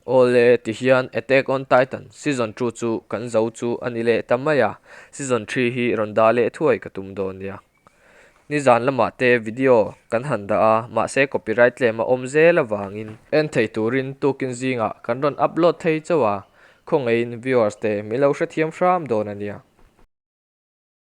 Awle, ti hian Attack on Titan season two chu kan zo chu a ni leh ta mai a, season three hi rawn dah leh thuai ka tum dawn nia. Ni zan lamah te video kan han dah a, mahse copyright claim a awm zel avangin. En thei turin tukin zingah kan rawn upload thei chauh a, khawngaihin viewers te min lo hrethiam hram dawn a nia.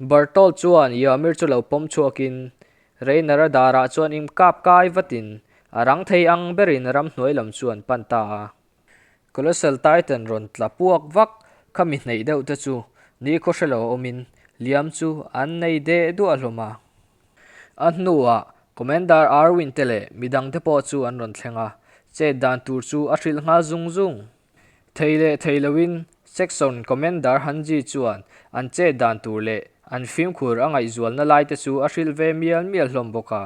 Bartol chuan Yamir chu lo pawm chhuakin Reiner-a darah chuan im kap kai vatin a rang thei ang berin ramhnuai lam chu an pan ta a. Colossal Titan rawn tla puak vak kha mi hneih deuh te chu ni khaw hre lo awmin liam chu an nei deh duah hlawm a. A hnuah Commander Arwin te leh midang te pawh chu an rawn thleng a, chet dan tur chu a hrilh nghal zung zung. Thei leh thei loin Section Commander Han Ji chuan an chet dan tur leh an fimkhur a ngaihzualna laite chu a hrilh ve mial mial hlawm bawk a.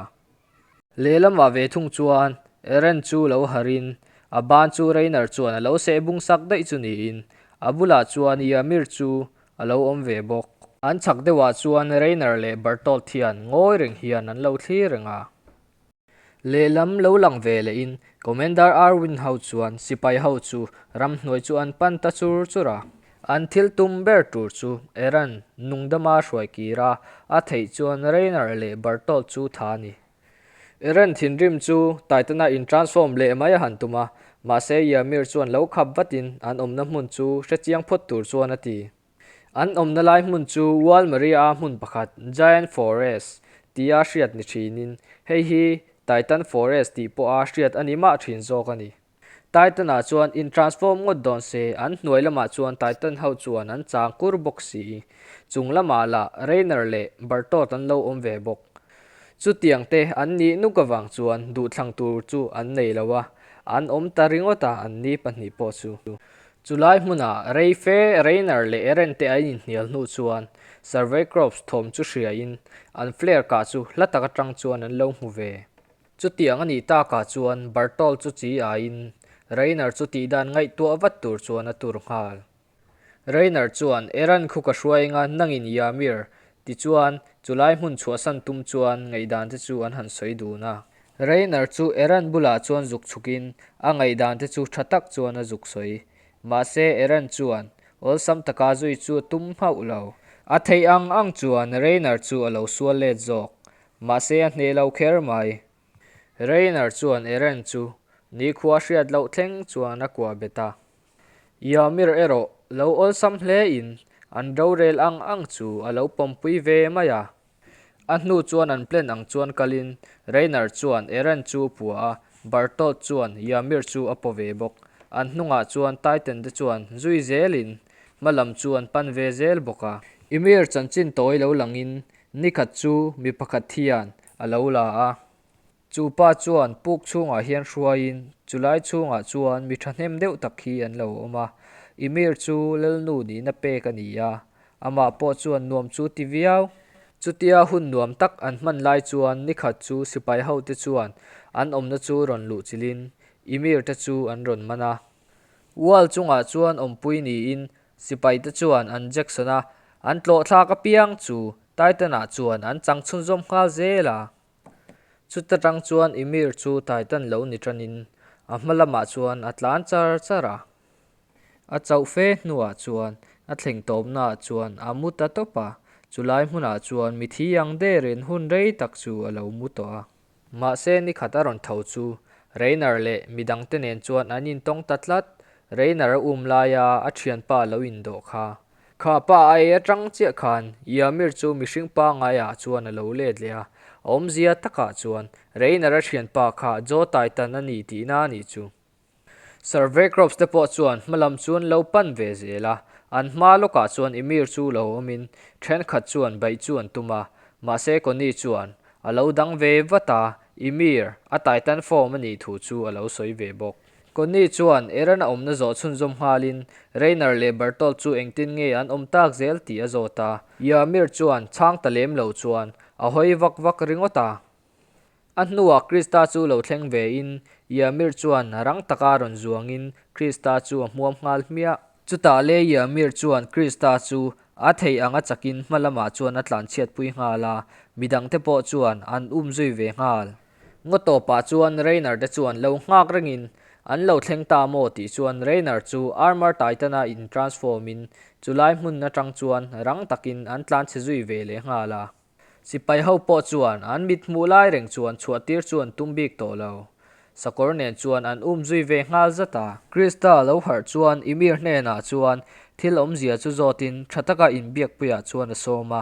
Lehlamah ve thung chuan Eren chu lo harh in a ban chu Reiner chuan a lo seh bung sak daih chu niin a bulah chuan Ymir chu a lo awm ve bawk. An chak deuhah chuan Reiner leh Bertolt hian ngawi reng hian an lo thlir reng a. Lehlam lo lang ve lehin Commander Arwin ho chuan sipai ho chu ramhnuai chu an pan ta chur chur a. An thil tum ber tur chu Eran nungdama hruai kira a theih chuan Raynor leh Bertholdt chu tha a ni. Eran thinrim chu Titan-a in transform leh mai a han tum a, mahse Ymir chuan lo khap vatin an awmna hmun chu hrechiang phawt tur chuan a ti. An awmna lai hmun chu Wall Maria-a hmun pakhat, Giant Forest, tia hriat ni thinin, hei hi Titan Forest tih pawha hriat a ni mah thin zawk a ni. Titan-ah chuan intransform ngawt dawn se, an hnuai lamah chuan Titan ho chuan an chang kur bawk si. Chung lamah lah Rainer leh Bartot an lo awm ve bawk. Chutiang te an nih nuk avang chuan duhthlang tur chu an nei lo a, an awm ta ringawt a an ni pahnih pawh chu. Chulai hmunah Reife, Reiner leh Eren te an inhnial hnu chuan Survey Crops thawm chu hriain an flare kah chu hla tak atang chuan an lo hmu ve. Chutiang a nih takah chuan Bartol chu chi aiin Reiner chu tih dan ngaihtuah vat tur chuan a tur nghal. Reiner chuan Eren khu ka hruai enga nangin Ymir? tichuan chulai hmun chhuahsan tum chuan ngaihdan te chu an han sawi dun a. Reiner chu Eren bulah chuan zuk chhukin a ngaihdante chu tha tak chuan a zuk sawi. Mahse, Eren chuan awlsam taka zui chu a tum hauh lo. A theih ang ang chuan Reiner chu a lo sual let zawk. Mahse, a hne lo kher mai. Reiner chuan Eren chu nikhua hriat loh thleng chuan a kuah bet a. Ymir erawh lo awlsam hlein an rorel ang ang chu a lo pawmpui ve mai a. A hnu chuan an plan ang chuan kalin Reiner chuan Eren chu a pua a, Bertolt chuan Ymir chu a paw ve bawk. An hnungah chuan Titan te chuan zui zelin hma lam chu an pan ve zel bawk a. Ymir chanchin tawi lo langin nikhat chu mi pakhat hian a lo la a. Chu pa chuan puk chhungah hian hruaiin chulai chhungah chuan mi thahnem deuh tak khi an lo awm a, i mir chu Lalnu nihna pek a ni a, amah pawh chuan nuam chu ti viau. Chutia hun nuam tak an hman lai chuan nikhat chu sipai hote chuan an awmna chu rawn luh chilhin i mir te chu an rawn man a. Wall chungah chuan awmpui niin sipai te chuan an Jackson-a an tlawhthlak apiang chu Titan-ah chuan an changchhun zawm nghal zel a. Chuta tang chuan Emir chu Titan lo ni tanin a hma lamah chuan a tlan char char a. A chauh fe hnuah chuan a thleng tawpnaah chuan a mu ta tawp a, chulai hmunah chuan mithi ang derin hun rei tak chu a lo mu tawh a. Mahse nikhat a rawn tho chu Reiner leh mi dangte nen chuan an intawng ta tlat, Reiner a um laia a thianpa lo indawh kha Kha pa a ei atang chiah khan Iamir chu mihring pangai ah chuan a lo let leh a, a awmzia takah chuan Reiner a thian pa kha Joe Taitan a ni tihna a nih chu. Survey Crops te pawh chuan hma lam chu an lo pan ve zel a, an hma lawkah chuan Imir chu lo awmin thenkhat chuan baih chu an tum a, mahse Connie chuan a lo dang ve vat a, Imir a Taitan fawm a nih thu chu a lo sawi ve bawk. Connie chuan Aaron a awmna zawh chhunzawm nghalin, Reiner leh Bertolt chu engtin nge an awm tak zel tih a zawt a. Yarmir chuan chhang ta lem lo chuan a hawi vak vak ringawt a. A hnuah Krista chu lo thleng ve in, Yarmir chuan rang taka rawn zuangin Krista chu a hmuam nghal hmiah. Chutah le Yarmir chuan Krista chu a theih anga chakin hmalamah chuan a tlanchhiat pui nghal a, midangte pawh chuan an um zui ve nghal. Ngaw tawpah chuan Raynor te chuan lo nghak rengin an lo thleng ta maw tih chuan Raynor chu Armor Titan-a in transform in chu lai hmun atang chuan rang takin an tlan chhe zui ve leh nghal a. Sipai ho pawh chuan an mit hmuh lai reng chuan chhuah tir chuan tum bik tawh lo. Sakawr nen chuan an um zui ve nghal zat a. Christa lo harh chuan Ymir hnenah chuan thil awmzia chu zawtin tha taka inbiak puiah chuan a sawm a.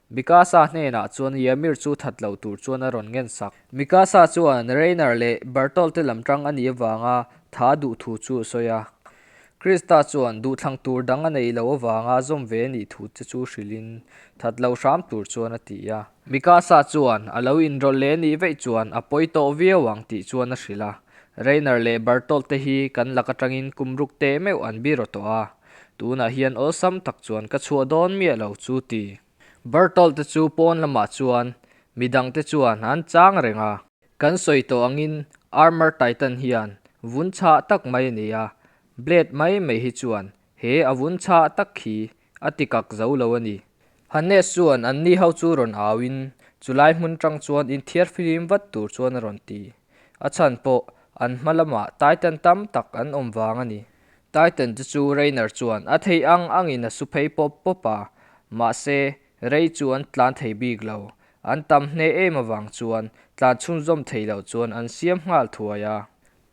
Mikasa hnenah chuan Ymir chu that loh tur chuan a rawn ngen sak. Mikasa chuan Reiner leh Bertolt te lam tang a nih avanga tha duh thu chu a sawi a. Krista chuan duhthlang tur dang a nei lo avanga zawm ve a nih thu te chu hrilhin that lo hram tur chuan a ti a. Mikasa chuan a lo inrawlh leh a nih veih chuan a pawi tawh viau ang tih chuan a hrilh a. Reiner leh Bertolt te hi kan lak atangin kum ruk teh meuh an bi rawh tawh a. Tunah hian awlsam tak chuan ka chhuah dawn miah lo chu ti. Berthold te chu pawn lamah chuan mi dangte chuan an chang reng a. Kan sawi tawh angin Armour Titan hian vun chhah tak mai a ni a, Blade mai mai hi chuan he a vun chhah tak khi a tikak zo lo a ni. Hannes chuan an ni ho chu rawn auin chulai hmun tang chuan inthiar filim vat tur chuan a rawn ti. A chhan pawh an hma lamah Titan tam tak an awm vang a ni. Titan te chu Reiner chuan a thei ang angin a su phei pawp pawp a, mahse, Rey chu an tlan thei bik lo. An tam hneh em avang chuan tlan chhunzawm thei loh chuan an siam nghal thuai a.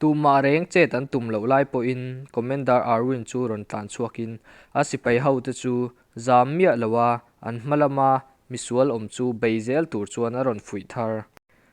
Tumah reng chet an tum loh lai pawhin Commander Arwin chu rawn tlan chhuakin a sipai hote chu zam miah loa an hma lama misual awm chu bei zel tur chuan a rawn fuih thar.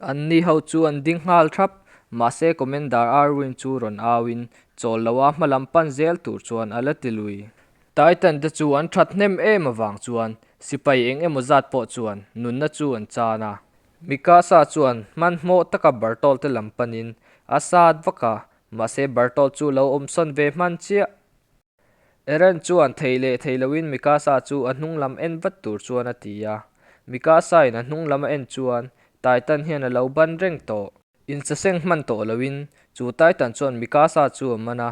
An ni ho chu an ding nghal thrap, mahse Commander Irwin chu rawn auin chawl loha hmalam pan zel tur chuan a la ti lui. Titan te chu an that hnem em avang chuan sipai eng emaw zat pawh chuan nunna chu an chan a. Mikasa chuan hmanhmawh taka Bertolt te lam panin a sat vak a, mahse Bertolt chu lo awmsawn ve hman chiah. Aaron chuan thei leh thei loin Mikasa chu a hnung lam en vat tur chuan a ti a. Mikasa-in a hnung lam a en chuan Titan hian a lo ban reng tawh. Insaseng hman tawh loin chu Titan chuan Mikasa chu a man a,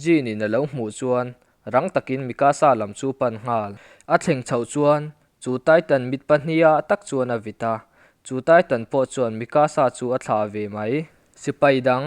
Jin-in a lo hmuh chuan rang takin Mikasa lam chu pan nghal. A thleng chhoh chuan chu Titan mit pahnia tak chuan a vit a, chu Titan pawh chuan Mikasa chu a thlah ve mai. Sipai dang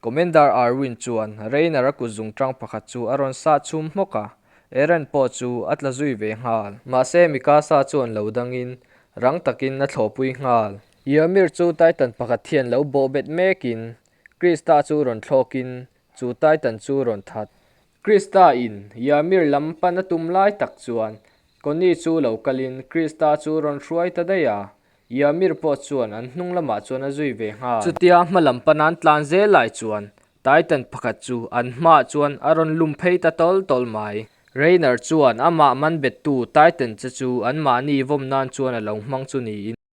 Commander Irwin chuan Rayner a kut zung ṭang pakhat chu a rawn sah chhum hmawk a, Eren pawh chu a tla zui ve nghal. Mahse Mikasa chuan lo dangin rang takin a thlawpui nghal. Ymir chu Titan pakhat hian lo bawh bet mekin Krista chu rawn thlawkin chu Titan chu rawn that. Krista in Yamir lam pan a tum lai tak chuan Connie chu lo kalin Krista chu rawn hruai ta daih a, Yamir pawh chuan an hnung lamah chuan a zui ve nghal. Chutia hma lam panan tlan zel lai chuan Titan pakhat chu an hmaah chuan a rawn lum phei ta tawl tawl mai. Reiner chuan amah man bettu Titan che chu anmahni vawmnain chuan a lo hmang chu niin.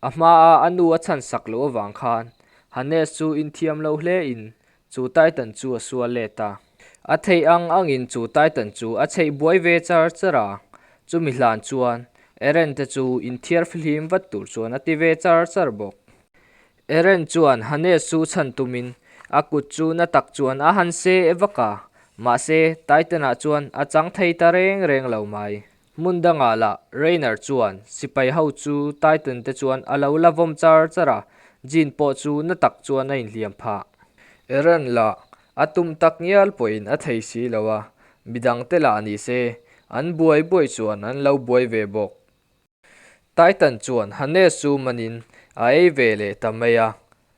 A hma a a nu a chhan sak loh avang khan Hannes chu inthiam lo hle in chu Titan chu a sual let a. A theih ang ang in chu Titan chu a cheih buai ve char char a. Chumi hlan chuan Eren te chu inthiar fihlim vat tur chuan a ti ve char char bawk. Eren chuan Hannes chu chhan tum in a kut chu na tak chuan a han se e vak a, mahse Titan-ah chuan a chang thei ta reng reng lo mai. Hmun dangah lah, Rainer chuan, Sipai ho chu Titan te chuan a lo la vawm char char a, Jean pawh chu na tak chuan a inhliam phah. Eren lah, a tum tak ngial pawhin a thei si lo a, midang te lah ni se, an buai buai chuan an lo buai ve bawk. Titan chuan Hannes chu manin a ei ve leh ta mai a,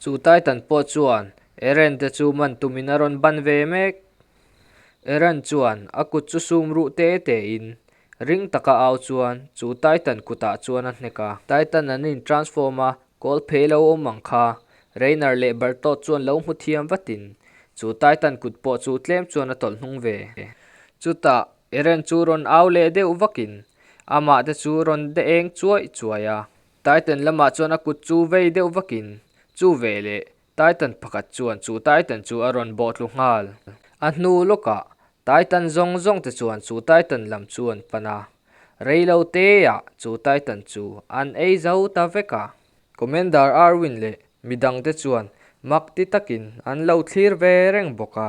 Chu Titan pawh chuan Eren te chu man tumin a rawn ban ve mek. Eren chuan a kut chu sum ruh te te in ring taka au chuan chu Titan kutah chuan a hnek a. Titan an in transform a kawl phei lo awm ang kha Reiner leh Bertolt chuan lo hmu thiam vatin chu Titan kut pawh chu tlem chuan a tawlh hnung ve. Chutah Eren chu rawn au leh deuh vakin amah te chu rawn de eng chuai chuai a. Titan lamah chuan a kut chu vei deuh vakin chu ve leh Titan pakhat chuan chu Titan chu a rawn bawhtlu nghal. A hnu lawkah Titan zawng zawng te chuan chu Titan lam chu an pan a, rei lo teah chu Titan chu an ei zo ta vek a. Commander Arwin leh mi dang te chuan mak ti takin an lo thlir ve reng bawk a.